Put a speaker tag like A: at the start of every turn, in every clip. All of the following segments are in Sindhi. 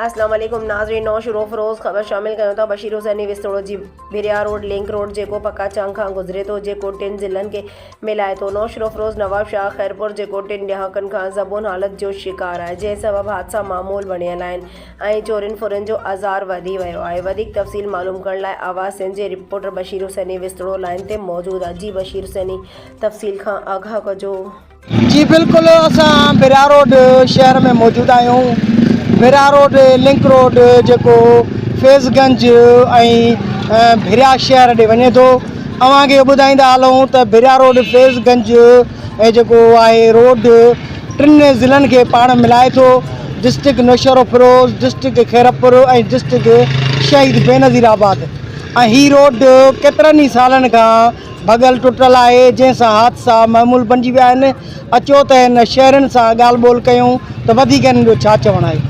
A: اسلام عليڪم ناظرين نئون شروع فروز خبر شامل ڪيون ٿا بشير حسيني وسطوڙو جي ڀريا روڊ لنڪ روڊ جيڪو پڪا چانگ کان گذري ٿو جيڪو ٽن ضلعن کي ملائي ٿو نئون شروع فروز نواب شاهه خيرپور جيڪو ٽن ڏهاڪن کان زبون حالت جو شڪار آهي جنهن سبب حادثا معمول بڻيل آهن ۽ چورين ڦرين جو آزار وڌي ويو آهي وڌيڪ تفصيل معلوم ڪرڻ لاء آواز سنڌ جي رپورٽر بشير حسيني وسطوڙو لائين تي موجود آهي جي بشير حسيني تفصيل کان آگاهه ڪجو. جي بلڪل
B: اسان بحرا روڊ شهر ۾ موجود آهيون بحرا روڊ لنڪ روڊ جيڪو فيض گنج ۽ بحرا شهر ڏي وڃي ٿو اوهان کي ٻڌائيندا هلون ته بحرا روڊ فيض گنج ۽ جيڪو آهي روڊ ٽن ضلعن کي پاڻ ملائي ٿو district Naushahro Feroze district Khairpur ۽ district Shaheed Benazir آباد ۽ هي روڊ ڪيترن ئي سالن کان ڀڳل ٽٽل آهي جنهن سان حادثا معمول بنجي ويا آهن اچو ته هن شهرين سان ڳالهه ٻولهه ڪيون ته وڌيڪ هنن جو ڇا چوڻ آهي.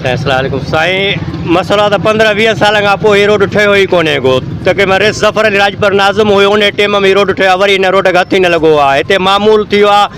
B: سائين
C: السلام عليڪم سائين مسئلو ته پندرهن ويهه سالن کان پوء هي روڊ ٺهيو ئي ڪونهي ڪو تقريبن رئيس ظفر علي راڄپر ناظم هيو انهي ٽيم ۾ هي روڊ ٺهيو آهي وري هن روڊ کي هٿ ئي نه لڳو آهي هتي معمول ٿيو آهي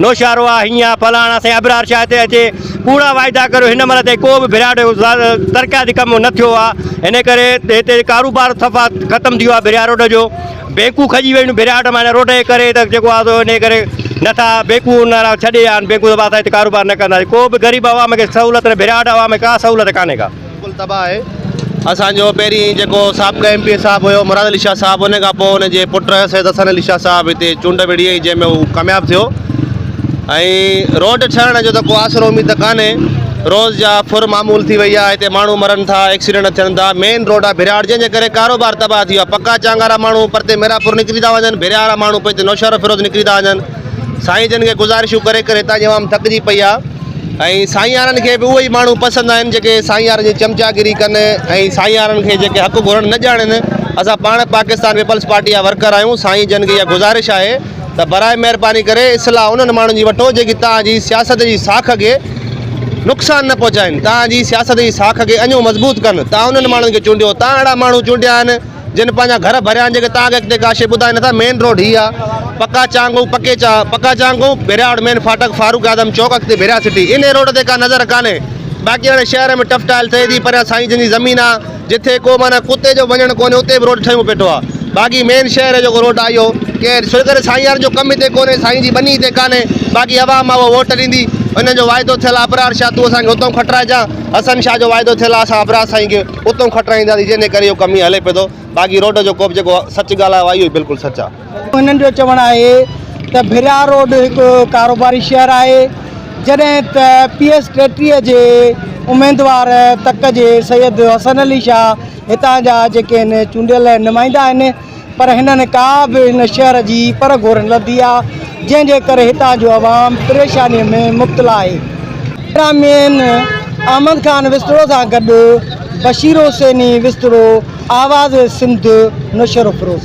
C: نوشهرو آ هينئن فلاڻ آ سائين ابرار شاهه هتي اچي ڪوڙا واعدا ڪريو هن مهل تائين ڪو به ڀرياڙ ترقياتي ڪم نه ٿيو آهي ان ڪري هتي ڪاروبار صفا ختم ٿي ويو آهي ڀريا روڊ جو بينڪون کڄي ويون ڀريا روڊ معنيٰ روڊ جي ڪري ته جيڪو آهي ان ڪري نٿا بينڪون ان لاء ڇڏي آهن بينڪون صفا اسان هتي ڪاروبار نه ڪندا ڪو به غريب عوام کي سهولت ڀريا روڊ عوام کي ڪا سهولت ڪانهي ڪا بلڪل تباھ آھي
D: اسان جو پهرين جيڪو سابقه ايم پي اي صاحب هيو مراد علي شاھ صاحب ان کان پوء ان جي پٽ سيد حسن علي شاھ صاحب هتي چونڊ وڙهي ۽ جنهن ۾ هو ڪامياب ٿيو ۽ روڊ ٺهڻ جو ته ڪو آسرو اميد ته ڪانهي روز جا ڦر معمول ٿي وئي آهي هتي ماڻهو مرن ٿا ايڪسيڊنٽ ٿين ٿا مين روڊ آهي ڀرياڙ جنهن جي ڪري ڪاروبار تباھ ٿي ويو آهي پڪا چانگارا ماڻهو پرتي ميرا پور نڪري ٿا وڃن ڀريا وارا ماڻهو پوء هتي نوشهرو فيروز نڪري ٿا وڃن سائين جن کي گذارشون ڪري ڪري هتان جي عوام ٿڪجي پئي آهي ۽ سائينارن کي به اهي ئي ماڻهو پسند آهن جيڪي سائينارن جي چمچاگيري ڪن ۽ سائينارن کي جيڪي حق گهرڻ نه ڄاڻن اسان پاڻ پاڪستان پيپلز پارٽي جا ورڪر آهيون سائين جن کي اها گذارش آهي ته برائي مهرباني ڪري اصلاح انهن ماڻهن جي وٺو جيڪي توهان جي سياست جي ساک کي نقصان نه پهچائين توهان جي سياست جي ساک کي اڃو مضبوط ڪن توهان انهن ماڻهن کي چونڊيو توهان اهڙا ماڻهو چونڊيا آهن جن پنهنجا گهر ڀريا آهن جيڪي توهان کي اڳتي ڪا شيء ٻڌائي نٿا مين روڊ هي آهي پڪا چانگو پڪي چا پڪا چانگو ڀيرياڙ مين ڦاٽڪ فاروق اعظم چوڪ اڳتي ڀيريا سٽي انهي روڊ تي ڪا نظر ڪانهي باقي هاڻي شهر ۾ ٽف ٽائل ٿئي ٿي پريان سائين جن جي زمين آهي جتي ڪو معنيٰ ڪتي جو وڃڻ ڪونهي اتي به روڊ ٺهيون پيٺو آهي باقي مين شهر جو جيڪو روڊ آهي اهو ڪير سو ڪري سائين يار جو ڪم هتي ڪونهي سائين جي ٻني هتي ڪانهي باقي عوام آهي اهو ووٽ ڏيندي انهن جو واعدو ٿيل آهي ابرار شاهه تون اسان کي هتئون کٽرائجان حسن شاهه جو واعدو ٿيل آهي اسان ابرار سائين کي اتئون کٽرائينداسين جنھن ڪري اھو ڪم ھيئن ھلي پيو ٿو باقي روڊ جو ڪوبه جيڪو سچ ڳالھه آيو آھي اھو بلڪل سچ آ. انھن جو چوڻ آھي
B: ته ڀريا روڊ ھڪ ڪاروباري شھر آھي جڏھن ته پي ايس ٽيٽيھه جي اميدوار تڪ جي سيد حسن علي شاھ ھتان جا جيڪي ھن چونڊيل نمائندا آھن پر هنن ڪا به هن شهر جي پر گهور نه لڌي آهي، جنهن جي ڪري هتان جو عوام پريشانيء ۾ مبتلا آهي. احترامين احمد خان وسطڙو سان گڏ بشير حسيني وسطڙو، آواز سنڌ، نوشهروفيروز.